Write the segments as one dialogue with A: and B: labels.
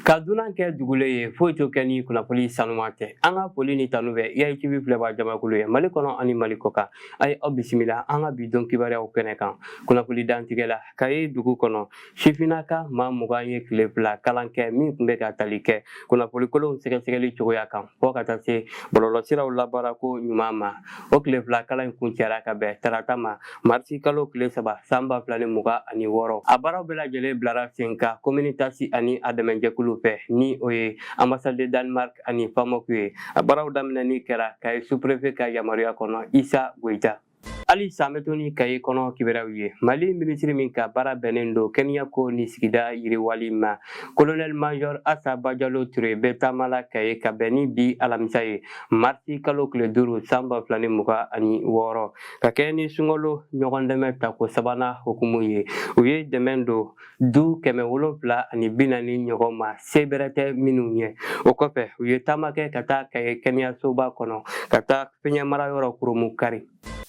A: ka dunan kɛ dugulen ye foyi t'o kɛ ni kunnafoni sanuman tɛ an ka foli ni tanu bɛ kaye tv filɛbaa jamakulu ye mali kɔnɔ ani mali kɔkan a ye aw bisimila an ka bi don kibaruyaw kɛnɛ kan kunnafoni dantigɛ la kaye dugu kɔnɔ sifinnaka maa mugan ye tile fila kalan kɛ min tun bɛ ka tali kɛ kunnafoni kolonw sɛgɛsɛgɛli cogoya kan fɔ ka taa se bɔlɔlɔsiraw labaarako ɲuman ma o tile fila kalan in kuncɛra ka bɛn tarata ma marisi kalo tile saba san ba fila ni mugan ani wɔɔrɔ a baaraw bɛɛ lajɛlen bilara sen kan komini tasi ani a dɛmɛjɛkulu fɛ ni o ye ambassade de danemark ani famoc ye a baaraw daminɛni kɛra kaye suprefe ka yamaruya kɔnɔ isa goyita hali sa an bɛ to ni kaye kɔnɔ kibaruyaw ye mali minisiri min ka baara bɛnnen don kɛnɛyako ni sigida yiriwali ma kolonɛli majɔr asa bajalo ture bɛ taama la kaye ka bɛn ni bi alamisa ye marisi kalo tile duuru san ba fila ni mugan ani wɔɔrɔ ka kɛɲɛ ni sunkalo ɲɔgɔn dɛmɛ tako sabanan hukumu ye u ye dɛmɛ don du kɛmɛ wolonfila ani bi naani ɲɔgɔn ma se bɛrɛ tɛ minnu ye o kɔfɛ u ye taama kɛ ka taa kaye kɛnɛyasoba kɔnɔ ka taa fiɲɛmara yɔrɔ kurunbonkari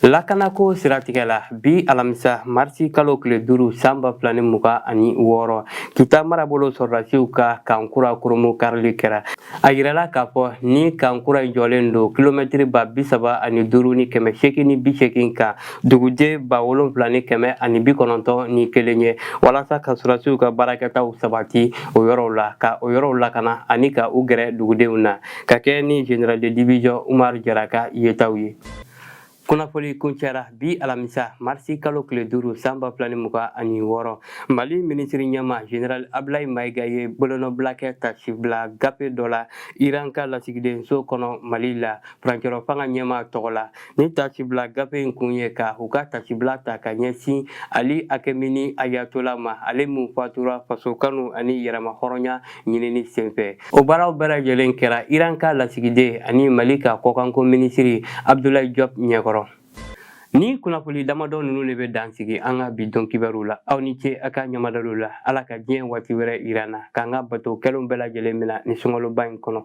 A: lakanako siratigɛ la bi alamisa marisi kalo tile duuru san ba fila ni mugan ani wɔɔrɔ kita marabolo sɔrɔdasiw ka kan kura kurunbonkarili kɛra a yirala k'a fɔ ni kan kura in jɔlen don kilomɛtiri ba bi saba ani duuru ni kɛmɛ seegin ni bi seegin kan duguden ba wolonfila ni kɛmɛ ani bi kɔnɔntɔn ni kelen ye walasa ka sɔrɔdasiw ka baarakɛtaw sabati o yɔrɔw la ka o yɔrɔw lakana ani ka u gɛrɛ dugudenw na ka kɛ ni general de division Umaru Jara ka yetaw ye. Kunnafoli kuncɛra bi alamisa marisi kalo tile duuru san ba fila ni mugan ani wɔɔrɔ mali minisiri ɲɛmaa general abulayi mayiga ye bolonɔbila kɛ taasibila gafe dɔ la iran ka lasigidenso kɔnɔ mali la furancɛrɔ fanga ɲɛmaa tɔgɔ la Ni taasibila gafe in kun ye ka u ka taasibila ta ka ɲɛsin ali akɛmini ayatola ma ale min fatura faso kanu ani yɛrɛma hɔrɔnya ɲinini senfɛ o baaraw bɛɛ lajɛlen kɛra iran ka lasigiden ani mali ka kɔkanko minisiri abdulayi jɔp ɲɛkɔrɔ ni kunnafoni damadɔ ninnu de bɛ dan sigi an ka bi don kibaru la aw ni ce a ka ɲɛmadali la ala ka diɲɛ waati wɛrɛ yira an na k'an ka bato kɛlenw bɛɛ lajɛlen mina ni sunkaloba in kɔnɔ